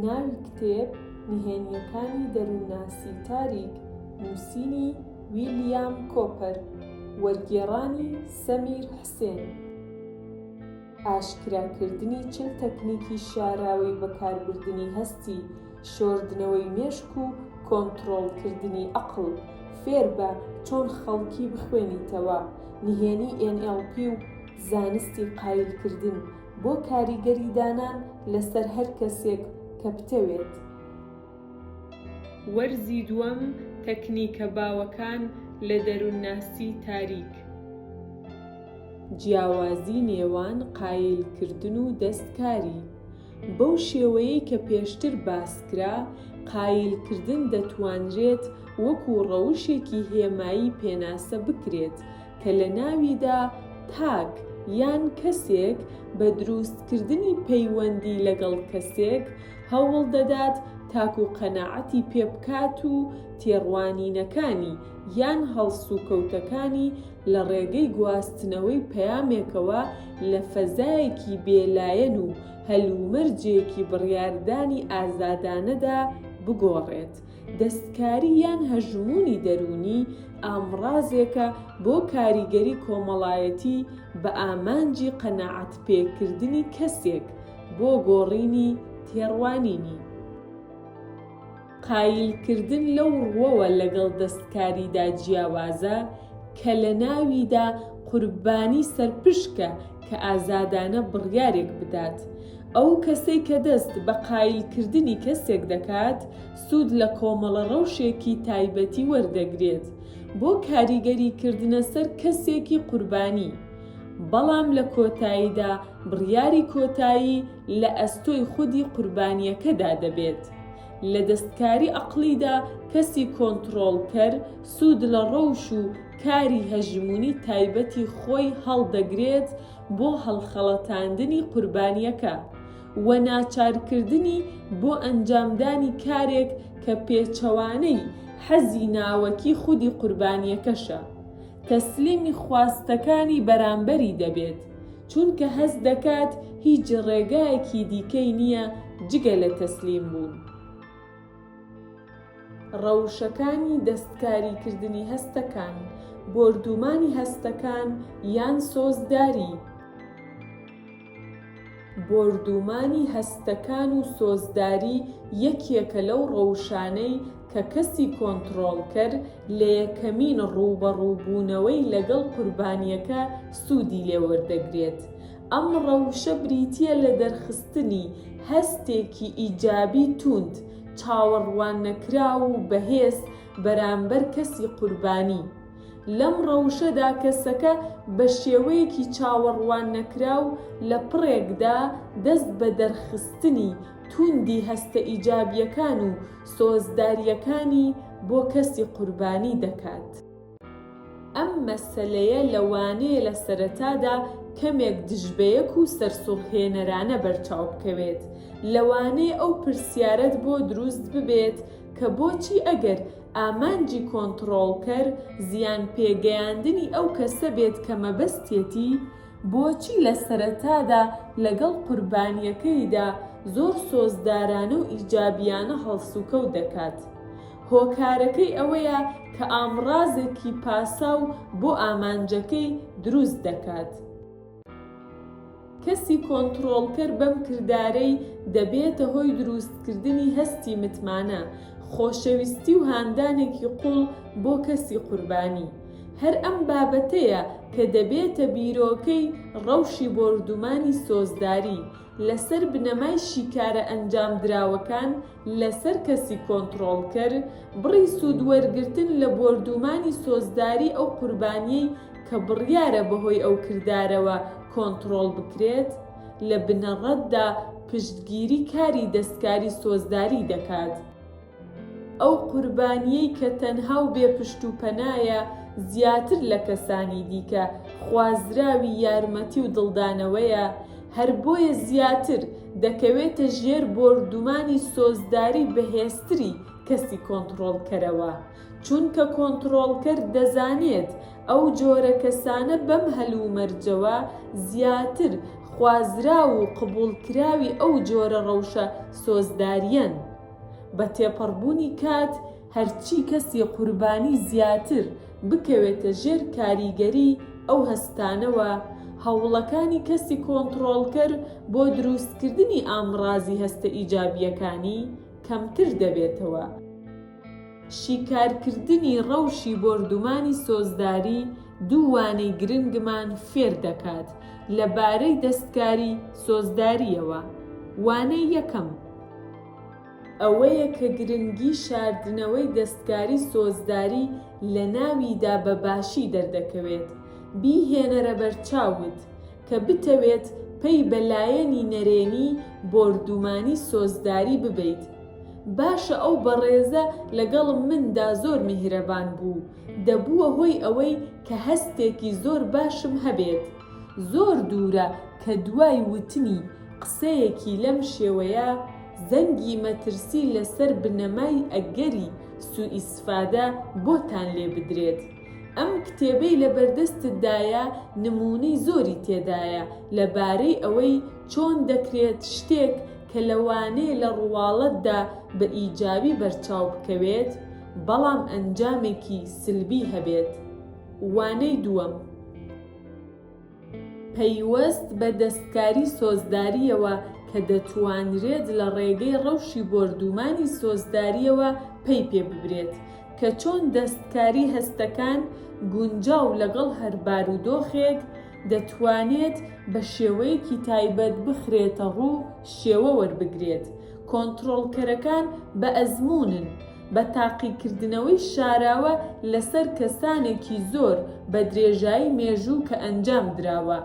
ناوی کتێب، نهێنییەکانی دەروونناسی تاریک، نووسینی، ویلیام کۆپەر، وەرگێڕانی، سەمیر حسێن. ئاشکراکردنی چل تەکنیکی شاراوەی بەکاربردنی هەستی، شۆردنەوەی مێشک و کۆنتڕۆڵکردنی ئەقڵ. فێربە چۆن خەڵکی بخوێنیتەوە، نهێنی ئێن ئێڵ پی و. زانستی قایل کردن بۆ کاریگەری دانان لەسەر هەر کەسێک کە بتەوێت. وەرزی دووەم تەکنیکە باوەکان لە دەرونناسی تاریک. جیاوازی نێوان قایل کردن و دەست کاری. بەو شێوەیەی کە پێشتر باس کرا قایل کردن دەتوانرێت وەکو ڕەوشێکی هێمایی پێناسە بکرێت کە لە ناویدا تاک یان کەسێک بە درووستکردنی پەیوەندی لەگەڵ کەسێک هەوڵ دەدات تاک و قەناعەتی پێ بکات و تێڕوانینەکانی یان هەڵسوکەوتەکانی لە ڕێگەی گواستنەوەی پەیامێکەوە لە فەزایەکی بێ لایەن و هەلومەرجێکی بڕیاردانی ئازادانەدا بگۆڕێت دەستکاری یان هەژموونی دەروونی ئامڕازێکە بۆ کاریگەری کۆمەڵایەتی بە ئامانجی قەناعەتپێکردنی کەسێک بۆ گۆڕینی تێڕوانینی. قایلکردن لەو ڕووەوە لەگەڵ دەستکاریدا جیاوازە کە لەناویدا قوربانی سەرپشکە کە ئازادانە بڕیارێک بدات. ئەو کەسەی کە دەست بە قایلکردنی کەسێک دەکات، سوود لە کۆمەڵە ڕەوشێکی تایبەتی وەردەگرێت بۆ کاریگەریکردنە سەر کەسێکی قوربانی، بەڵام لە کۆتاییدا بڕیاری کۆتایی لە ئەستۆی خودی قوربانییەکەدا دەبێت. لە دەستکاری ئەقڵیدا کەسی کۆنتڕۆڵکەر سوود لە ڕەوش و کاری هەژموونی تایبەتی خۆی هەڵدەگرێت بۆ هەڵخەڵەتاندنی قوربانییەکە و ناچارکردنی بۆ ئەنجامدانی کارێک کە پێچەوانەی حەزی ناوەکی خودی قوربانییەکەشە، تەسلیمی خواستەکانی بەرامبەری دەبێت، چونکە هەست دەکات هیچ ڕێگایەکی دیکەی نییە جگە لە تەسلیمبوون. ڕەوشەکانی دەستکاریکردنی هەستەکان، بۆردوومانی هەستەکان یان سۆزداری. بۆردوومانی هەستەکان و سۆزداری یەکێکە لەو ڕەوشانەی کە کەسی کۆنتڕۆڵکەر لە یەکەمین ڕووبەڕووبوونەوەی لەگەڵ قوربانییەکە سوودی لێوەردەگرێت، ئەم ڕەوشە بریتییە لە دەرخستنی هەستێکی ئیجابی تووند، چاوەڕواننەکراو و بەهێز بەرامبەر کەسی قوربانی. لەم ڕەوشەدا کەسەکە بە شێوەیەکی چاوەڕواننەکراو لە پڕێکدا دەست بە دەرخستنی تووندی هەستە ئیجابییەکان و سۆزدارییەکانی بۆ کەسی قوربانی دەکات. ئەم مەسەلەیە لەوانەیە لە سەرەتادا کەمێک دژبەیەک و سەرسوڕهێنەرانە بەرچاو بکەوێت، لەوانەیە ئەو پرسیارەت بۆ دروست ببێت کە بۆچی ئەگەر ئامانجی کۆنتڕۆڵکەر زیانپێگەیاندنی ئەو کەسە بێت کە مەبەستیەتی، بۆچی لە سەرەتادا لەگەڵ قوربانییەکەیدا زۆر سۆزدارانە و ئیجابییانە هەڵسوکەوت دەکات؟ هۆکارەکەی ئەوەیە کە ئامڕازێکی پاساو بۆ ئامانجەکەی دروست دەکات. کەسی کۆنتڕۆڵکەر بەم کردارەی دەبێتە هۆی دروستکردنی هەستی متمانە، خۆشەویستی و هاندانێکی قووڵ بۆ کەسی قوربانی. هەر ئەم بابەتەیە کە دەبێتە بیرۆکەی ڕەوشی بۆردومانی سۆزداری، لەسەر بنەمای شیکارە ئەنجامدراوەکان لەسەر کەسی کۆنتڕۆڵکەر، بڕی سوودوەرگرتن لە بۆردوومانی سۆزداری ئەو قوربانییەی کە بڕیارە بەهۆی ئەو کردارەوە کۆنتڕۆڵ بکرێت، لە بنەڕەتدا پشتگیری کاری دەستکاری سۆزداری دەکات. ئەو قوربانییەی کە تەنها و بێ پشت و پەنایە، زیاتر لە کەسانی دیکە خوازراوی یارمەتی و دڵدانەوەیە، هەر بۆیە زیاتر دەکەوێتە ژێر بۆردومانی سۆزداری بەهێزتری کەسی کۆنتڕۆڵکەرەوە، چونکە کۆنتڕۆڵکەر دەزانێت ئەو جۆرە کەسانە بەم هەلومەرجەوە زیاتر خوازراو و قبوڵکراوی ئەو جۆرە ڕەوشە سۆزدارییەن. بە تێپەڕبوونی کات هەرچی کەسی قوربانی زیاتر بکەوێتە ژێر کاریگەری ئەو هەستانەوە، هەوڵەکانی کەسی کۆنتڕۆڵکەر بۆ دروستکردنی ئامڕازی هەستە ئیجابییەکانی کەمتر دەبێتەوە. شیکارکردنی ڕەوشی بۆردومانی سۆزداری دوو وانەی گرنگمان فێر دەکات لەبارەی دەستکاری سۆزدارییەوە، وانەی یەکەم، ئەوەیە کە گرنگی شاردنەوەی دەستکاری سۆزداری لەناویدا بە باشی دەردەکەوێت، بیهێنەرە بەرچاوت کە بتەوێت پەی بە لایەنی نەرێنی بۆردومانی سۆزداری ببەیت. باشە ئەو بەڕێزە لەگەڵ مندا زۆر میهرەبان بوو، دەبووە هۆی ئەوەی کە هەستێکی زۆر باشم هەبێت، زۆر دوورە کە دوای وتنی قسەیەکی لەم شێوەیە، زەنگی مەترسی لەسەر بنەمای ئەگەری سوئیسفادە بۆتان لێ بدرێت. ئەم کتێبەی لەبەردەستتدایە نموونەی زۆری تێدایە لەبارەی ئەوەی چۆن دەکرێت شتێک کە لەوانەیە لە ڕواڵەتدا بە ئیجابی بەرچاو بکەوێت، بەڵام ئەنجامێکی سلبی هەبێت. وانەی دووەم. پەیوەست بە دەستکاری سۆزدارییەوە کە دەتوانرێت لە ڕێگەی ڕەوشی بۆردوومانی سۆزدارییەوە پەی پێ ببرێت کە چۆن دەستکاری هەستەکان گونجاو لەگەڵ هەر بارودۆخێک دەتوانێت بە شێوەیەکی تایبەت بخرێتەڕوو شێوە وەربگرێت کۆنترۆڵکەرەکان بە ئەزموونن بە تاقیکردنەوەی شاراوە لەسەر کەسانێکی زۆر بە درێژایی مێژوو کە ئەنجام دراوە،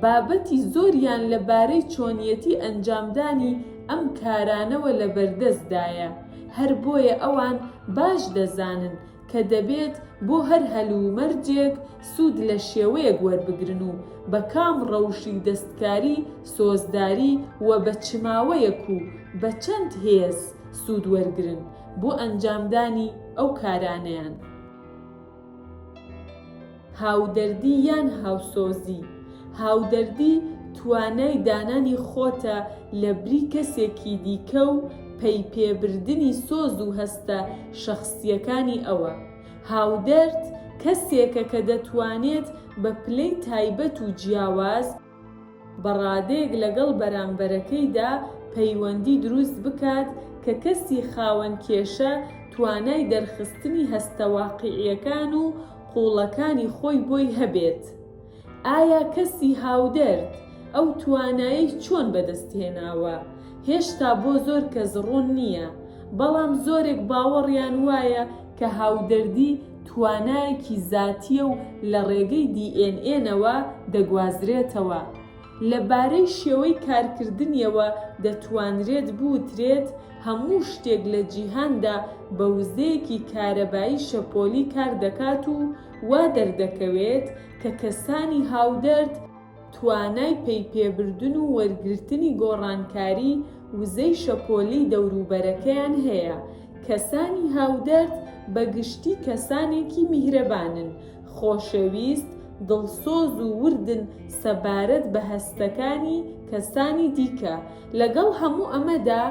بابەتی زۆریان لە بارەی چۆنیەتی ئەنجامدانی ئەم کارانەوە لە بەردەست دایە، هەر بۆیە ئەوان باش دەزانن کە دەبێت بۆ هەر هەلومەرجێک سوود لە شێوەیەک وەربگرن و بە کام ڕەوشی دەستکاری سۆزداری و بە چ ماوەیەک و بە چەند هێز سوود وەرگرن بۆ ئەنجامدانی ئەو کارانەیان. هاودەردی یان هاوسۆزی، هاودەردی توانای دانانی خۆتە لە بری کەسێکی دیکە و پەی پێ بردنی سۆز و هەستە شەخسییەکانی ئەوە. هاودەرد کەسێکە کە دەتوانێت بە پلەی تایبەت و جیاواز، بەڕادەیەک لەگەڵ بەرامبەرەکەیدا پەیوەندی دروست بکات کە کەسی خاوەن کێشە توانای دەرخستنی هەستە واقیعیەکان و قوڵەکانی خۆی بۆی هەبێت. ئایا کەسی هاودەرد ئەو توانایەی چۆن بەدەستهێناوە؟ هێشتا بۆ زۆر کەس ڕوون نیە، بەڵام زۆرێک باوەڕیان وایە کە هاودەردی، توانایەکی زاتییە و لە ڕێگەی دی ئێن ئێنەوە دەگوازرێتەوە. لە بارەی شێوەی کارکردنیەوە دەتوانرێت بوترێت هەموو شتێک لە جیهاندا بە وزەیەکی کارەبایی شەپۆلی کار دەکات و وا دەردەکەوێت کە کەسانی هاودەرد، توانای پەیپێبردن و وەرگرتنی گۆڕانکاری وزەی شەپۆلی دەوروبەرەکەیان هەیە. کەسانی هاودەرد بە گشتی کەسانێکی میهرەبانن، خۆشەویست، دڵسۆز و وردن سەبارەت بە هەستەکانی کەسانی دیکە. لەگەڵ هەموو ئەمەدا،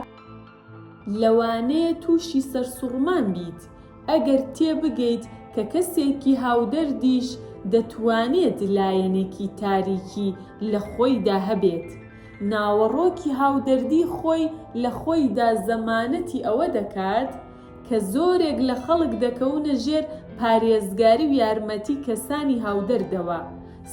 لەوانەیە تووشی سەرسوڕمان بیت ئەگەر تێبگەیت کە کەسێکی هاودەردیش دەتوانێت لایەنێکی تاریکی لە خۆیدا هەبێت. ناوەڕۆکی هاودەردی خۆی لە خۆیدا زەمانەتی ئەوە دەکات کە زۆرێک لە خەڵک دەکەونە ژێر پارێزگاری و یارمەتی کەسانی هاودەردەوە،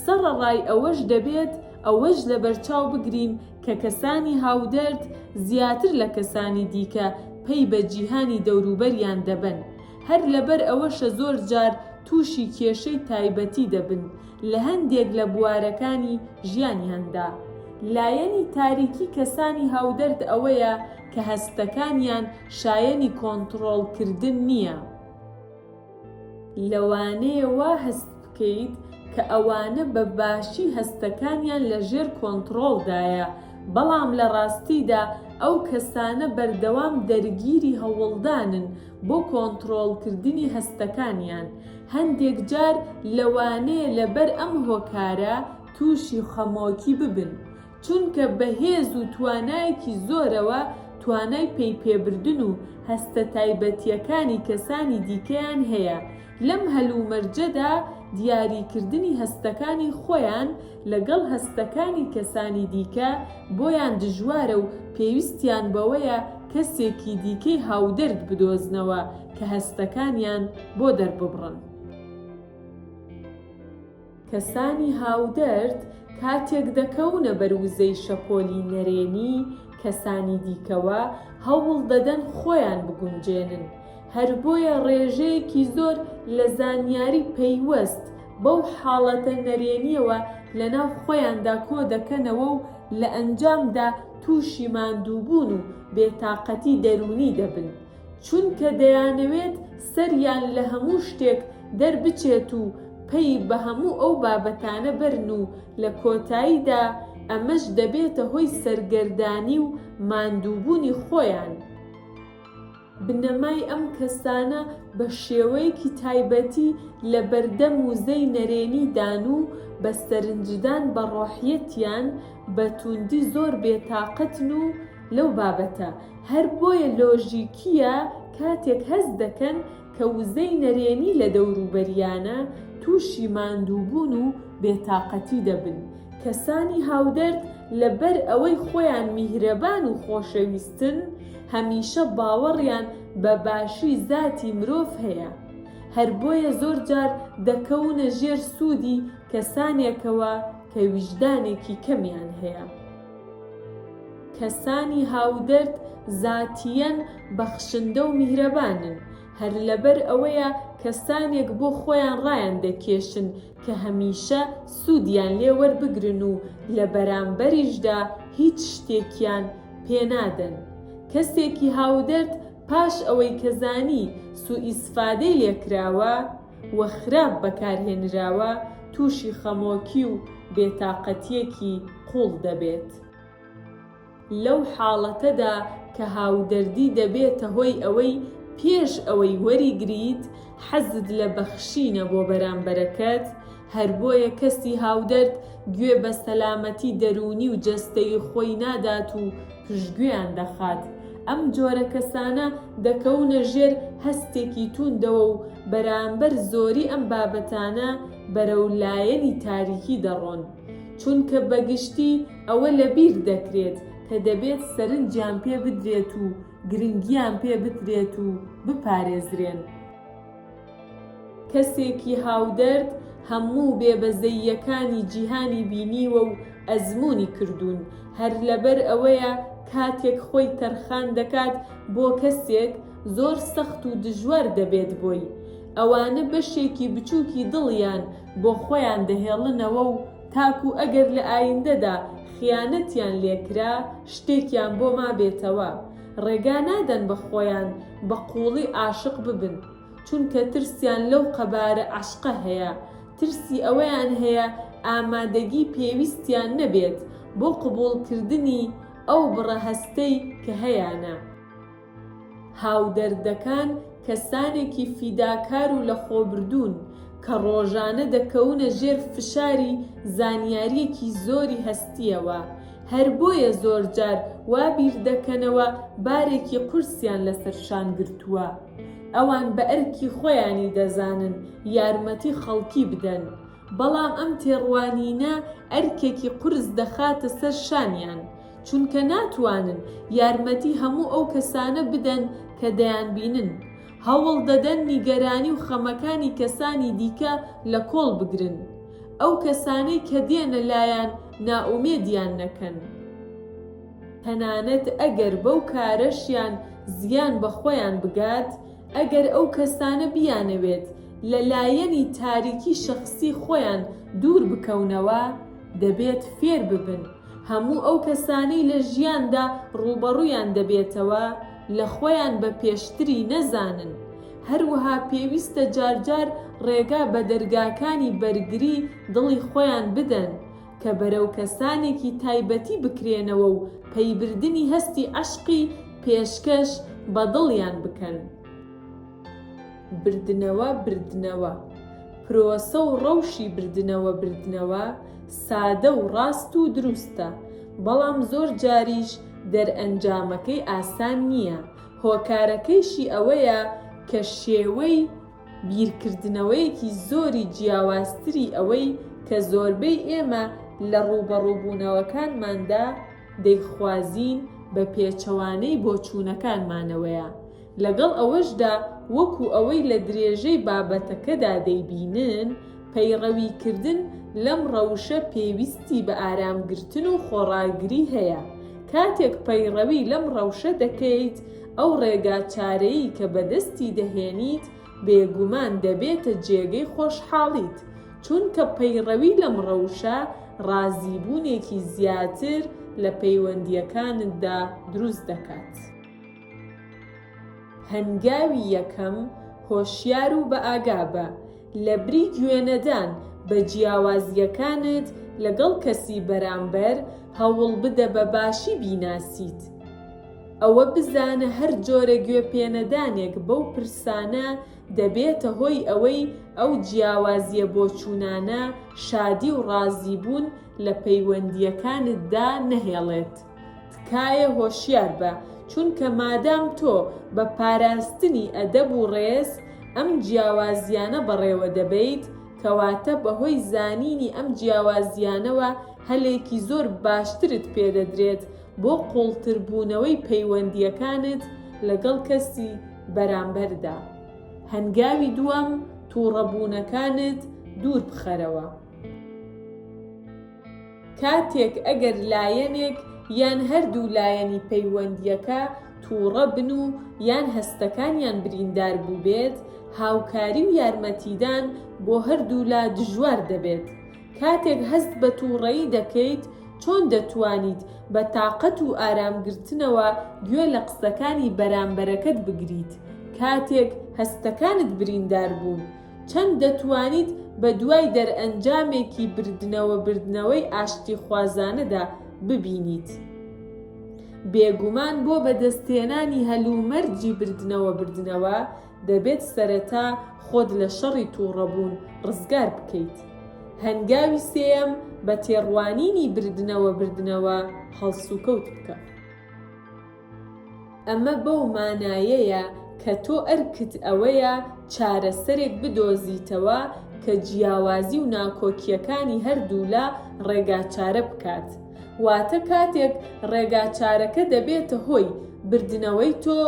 سەڕەڕای ئەوەش دەبێت ئەوەش لەبەرچاو بگرین کە کەسانی هاودەرد زیاتر لە کەسانی دیکە پەی بە جیهانی دەوروبەریان دەبەن، هەر لەبەر ئەوەشە زۆر جار تووشی کێشەی تایبەتی دەبن لە هەندێک لە بوارەکانی ژیانیاندا. لایەنی تاریکی کەسانی هاودەرد ئەوەیە کە هەستەکانیان شایەنی کۆنتڕۆڵکردن نییە. لەوانەیە وا هەست بکەیت کە ئەوانە بە باشی هەستەکانیان لە ژێر کۆنتڕۆڵدایە، بەڵام لە ڕاستیدا ئەو کەسانە بەردەوام دەرگیری هەوڵدانن بۆ کۆنتڕۆڵکردنی هەستەکانیان. هەندێک جار لەوانەیە لەبەر ئەم هۆکارە تووشی خەمۆکی ببن. چونکە بە هێز و توانایەکی زۆرەوە توانای پەی پێبردن و هەستە تایبەتییەکانی کەسانی دیکەیان هەیە، لەم هەلومەرجەدا دیاریکردنی هەستەکانی خۆیان لەگەڵ هەستەکانی کەسانی دیکە بۆیان دژوارە و پێویستیان بەوەیە کەسێکی دیکەی هاودەرد بدۆزنەوە کە هەستەکانیان بۆ دەرببڕن. کەسانی هاودەرد کاتێک دەکەونە بەر وزەی شەپۆلی نەرێنی کەسانی دیکەوە، هەوڵ دەدەن خۆیان بگونجێنن، هەر بۆیە ڕێژەیەکی زۆر لە زانیاری پەیوەست بەو حاڵەتە نەرێنییەوە لەناو خۆیاندا کۆ دەکەنەوە و لە ئەنجامدا تووشی ماندووبوون و بێتاقەتی دەروونی دەبن. چونکە دەیانەوێت سەریان لە هەموو شتێک دەربچێت و پەی بە هەموو ئەو بابەتانە بەرن و لە کۆتاییدا ئەمەش دەبێتە هۆی سەرگەردانی و ماندووبوونی خۆیان. بنەمای ئەم کەسانە بە شێوەیەکی تایبەتی لە بەردەم وزەی نەرێنی دان و بە سەرنجدان بە ڕۆحیەتیان بە تووندی زۆر بێتاقەتن و لەو بابەتە هەر بۆیە لۆژیکییە کاتێک هەست دەکەن کە وزەی نەرێنی لە دەوروبەریانە، تووشی ماندووبوون و بێتاقەتی دەبن. کەسانی هاودەرد لەبەر ئەوەی خۆیان میهرەبان و خۆشەویستن، هەمیشە باوەڕیان بە باشی زاتی مرۆڤ هەیە. هەر بۆیە زۆر جار دەکەونە ژێر سوودی کەسانێکەوە کە ویژدانێکی کەمیان هەیە. کەسانی هاودەرد زاتیەن بەخشندەو میهرەبانن هەر لەبەر ئەوەیە کەسانێک بۆ خۆیان ڕایان دەکێشن کە هەمیشە سودیان لێ وەربگرن و لە بەرامبەریشدا هیچ شتێکیان پێ نادەن کەسێکی هاودەرد پاش ئەوەی کە زانی سوئیسفادەی لێکراوە و خراپ بەکارهێنراوە تووشی خەمۆکی و بێتاقەتییەکی قووڵ دەبێت. لەو حاڵەتەدا کە هاودەردی دەبێتە هۆی ئەوەی پێش ئەوەی وەریگریت حەزت لە بەخشینە بۆ بەرامبەرەکەت، هەر بۆیە کەسی هاودەرد گوێ بە سەلامەتی دەروونی و جەستەیی خۆی نادات و پشتگوێیان دەخات. ئەم جۆرە کەسانە دەکەونە ژێر هەستێکی تووندەوە و بەرامبەر زۆری ئەم بابەتانە بەرەو لایەنی تاریکی دەڕۆن. چونکە بە گشتی ئەوە لە بیر دەکرێت کە دەبێت سەرنجیان پێ بدرێت و گرنگیان پێ بدرێت و بپارێزرێن. کەسێکی هاودەرد هەموو بێ بەزەییەکانی جیهانی بینیوە و ئەزموونی کردوون، هەر لەبەر ئەوەیە کاتێک خۆی تەرخان دەکات بۆ کەسێک زۆر سەخت و دژوار دەبێت بۆی، ئەوانە بەشێکی بچووکی دڵیان بۆ خۆیان دەهێڵنەوە و تاکوو ئەگەر لە ئایندەدا خیانەتیان لێکرا شتێکیان بۆ مابێتەوە، ڕێگا نادەن بە خۆیان بە قووڵی عاشق ببن، چونکە ترسیان لەو قەبارە عەشقە هەیە، ترسی ئەوەیان هەیە ئامادەگی پێویستیان نەبێت بۆ قبووڵکردنی ئەو بڕە هەستەی کە هەیانە. هاودەردەکان کەسانێکی فیداکار و لەخۆبردوون، کە ڕۆژانە دەکەونە ژێر فشاری زانیارییەکی زۆری هەستییەوە، هەر بۆیە زۆر جار وا بیر دەکەنەوە بارێکی قورسیان لەسەر شان گرتووە. ئەوان بە ئەرکی خۆیانی دەزانن یارمەتی خەڵکی بدەن، بەڵام ئەم تێڕوانینە ئەرکێکی قورس دەخاتە سەر شانیان، چونکە ناتوانن یارمەتی هەموو ئەو کەسانە بدەن کە دەیانبینن. هەوڵ دەدەن نیگەرانی و خەمەکانی کەسانی دیکە لە کۆڵ بگرن، ئەو کەسانەی کە دێنە لایان نائومێدیان نەکەن، تەنانەت ئەگەر بەو کارەشیان زیان بە خۆیان بگات، ئەگەر ئەو کەسانە بیانەوێت لە لایەنی تاریکی شەخسی خۆیان دوور بکەونەوە، دەبێت فێر ببن هەموو ئەو کەسانەی لە ژیاندا ڕووبەڕوویان دەبێتەوە، لە خۆیان بە پێشتری نەزانن، هەروەها پێویستە جارجار ڕێگا بە دەرگاکانی بەرگری دڵی خۆیان بدەن، کە بەرەو کەسانێکی تایبەتی بکرێنەوە و پەیبردنی هەستی عەشقی پێشکەش بە دڵیان بکەن. بردنەوە بردنەوە، پرۆسە و ڕەوشی بردنەوە بردنەوە سادە و ڕاست و دروستە، بەڵام زۆر جاریش دەرئەنجامەکەی ئاسان نییە، هۆکارەکەیشی ئەوەیە کە شێوەی بیرکردنەوەیەکی زۆری جیاوازتری ئەوەی کە زۆربەی ئێمە لە ڕووبەڕووبوونەوەکانماندا دەیخوازین بە پێچەوانەی بۆچوونەکانمانەوەیە لەگەڵ ئەوەشدا وەکو ئەوەی لە درێژەی بابەتەکەدا دەیبینن، پەیڕەویکردن لەم ڕەوشە پێویستی بە ئارامگرتن و خۆڕاگری هەیە، کاتێک پەیڕەوی لەم ڕەوشە دەکەیت، ئەو ڕێگاچارەی کە بەدەستی دەهێنیت بێگومان دەبێتە جێگەی خۆشحاڵیت، چونکە پەیڕەوی لەم ڕەوشە ڕازیبوونێکی زیاتر لە پەیوەندییەکانتدا دروست دەکات. هەنگاوی یەکەم، هۆشیار و بەئاگابە، لەبری گوێنەدان بە جیاوازییەکانت لەگەڵ کەسی بەرامبەر، هەوڵبدە بە باشی بیناسیت. ئەوە بزانە هەر جۆرە گوێپێنەدانێک بەو پرسانە دەبێتە هۆی ئەوەی ئەو جیاوازییە بۆچوونانە شادی و ڕازیبوون لە پەیوەندییەکانتدا نەهێڵێت. تکایە هۆشیار بە چونکە مادام تۆ بە پاراستنی ئەدەب و ڕێز ئەم جیاوازیانە بەڕێوە دەبەیت کەواتە بەهۆی زانینی ئەم جیاوازیانەوە هەلێکی زۆر باشترت پێ دەدرێت بۆ قوڵتر بوونەوەی پەیوەندیەکانت لەگەڵ کەسی بەرامبەردا هەنگاوی دووەم توڕەبوونەکانت دوور بخەرەوە. کاتێک ئەگەر لایەنێک یان هەردوو لایەنی پەیوەندییەکە تووڕە بن و یان هەستەکانیان بریندار بووبێت، هاوکاری و یارمەتیدان بۆ هەردوولا دژوار دەبێت. کاتێک هەست بە تووڕەیی دەکەیت، چۆن دەتوانیت بە تاقەت و ئارامگرتنەوە گوێ لە قسەکانی بەرامبەرەکەت بگریت کاتێک هەستەکانت بریندار بوون؟ چەند دەتوانیت بەدوای دەرئەنجامێکی بردنەوە بردنەوەی ئاشتیخوازانەدا ببینیت؟ بێگومان بۆ بەدەستهێنانی هەلومەرجی بردنەوە بردنەوە دەبێت سەرەتا خۆت لە شەڕی توڕەبوون ڕزگار بکەیت. هەنگاوی سێیەم بە تێڕوانینی بردنەوە بردنەوە هەڵسوکەوت بکە. ئەمە بەو مانایەیە کە تۆ ئەرکت ئەوەیە چارەسەرێک بدۆزیتەوە کە جیاوازی و ناکۆکییەکانی هەردوولا ڕێگاچارە بکات، واتە کاتێک ڕێگاچارەکە دەبێتە هۆی بردنەوەی تۆ،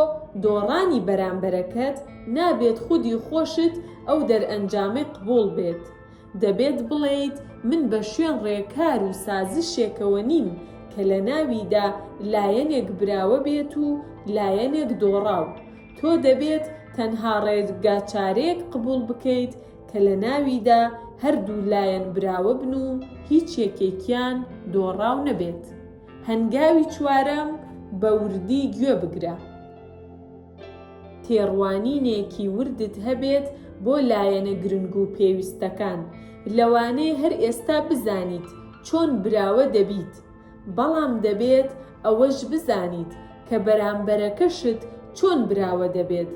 دۆڕانی بەرامبەرەکەت نابێت خودی خۆشت ئەو دەرئەنجامەی قبوڵ بێت، دەبێت بڵێیت من بە شوێن ڕێکار و سازشێکەوە نیم کە لە ناویدا لایەنێک براوە بێت و لایەنێک دۆڕاو، تۆ دەبێت تەنها ڕێگاچارەیەک قبوڵ بکەیت کە لە ناویدا هەردوو لایەن براوە بن و هیچ یەکێکیان دۆڕاو نەبێت. هەنگاوی چوارەم، بە وردی گوێ بگرە. تێڕوانینێکی وردت هەبێت بۆ لایەنە گرنگ و پێویستەکان، لەوانەیە هەر ئێستا بزانیت چۆن براوە دەبیت، بەڵام دەبێت ئەوەش بزانیت کە بەرامبەرەکەشت چۆن براوە دەبێت،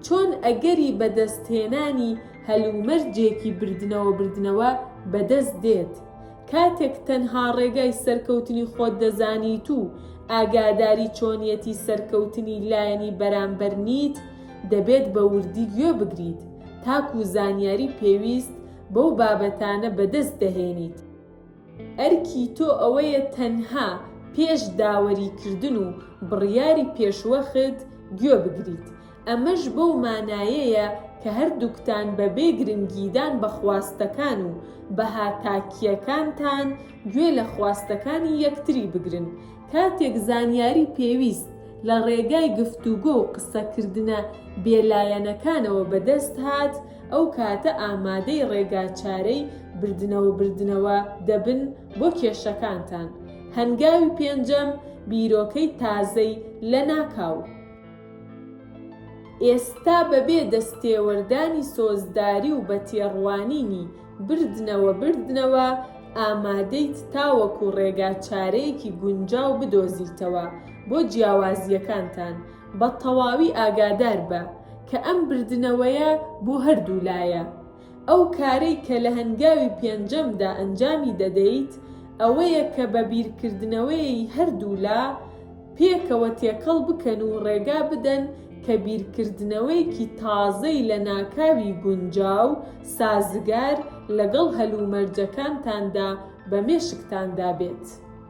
چۆن ئەگەری بەدەستهێنانی هەلومەرجێکی بردنەوە-بردنەوە بەدەست دێت. کاتێک تەنها ڕێگای سەرکەوتنی خۆت دەزانیت و ئاگاداری چۆنیەتی سەرکەوتنی لایەنی بەرامبەر نیت، دەبێت بە وردی گوێ بگریت تاکو زانیاری پێویست بەو بابەتانە بەدەست دەهێنیت. ئەرکی تۆ ئەوەیە تەنها پێش داوەریکردن و بڕیاری پێشوەخت گوێ بگریت، ئەمەش بەو مانایەیە کە هەردووکتان بەبێ گرنگیدان بە خواستەکان و بەها تاکییەکانتان، گوێ لە خواستەکانی یەکتری بگرن. کاتێک زانیاری پێویست لە ڕێگای گفتوگۆ و قسەکردنە بێلایەنەکانەوە بەدەست هات، ئەو کاتە ئامادەی ڕێگاچارەی بردنەوەبردنەوە دەبن بۆ کێشەکانتان. هەنگاوی پێنجەم، بیرۆکەی تازەی لەناکاو. ئێستا بەبێ دەستێوەردانی سۆزداری و بە تێڕوانینی بردنەوە بردنەوە ئامادەیت تاوەکو ڕێگا چارەیەکی گونجاو بدۆزیتەوە بۆ جیاوازییەکانتان، بە تەواوی ئاگاداربە کە ئەم بردنەوەیە بۆ هەردوو لایە. ئەو کارەی کە لە هەنگاوی پێنجەمدا ئەنجامی دەدەیت ئەوەیە کە بە بیرکردنەوەیەی هەردوولا پێکەوە تێکەڵ بکەن و ڕێگا بدەن کە بیرکردنەوەیەکی تازەی لەناکاوی گونجاو سازگار لەگەڵ هەلومەرجەکانتاندا بە مێشکتاندا بێت.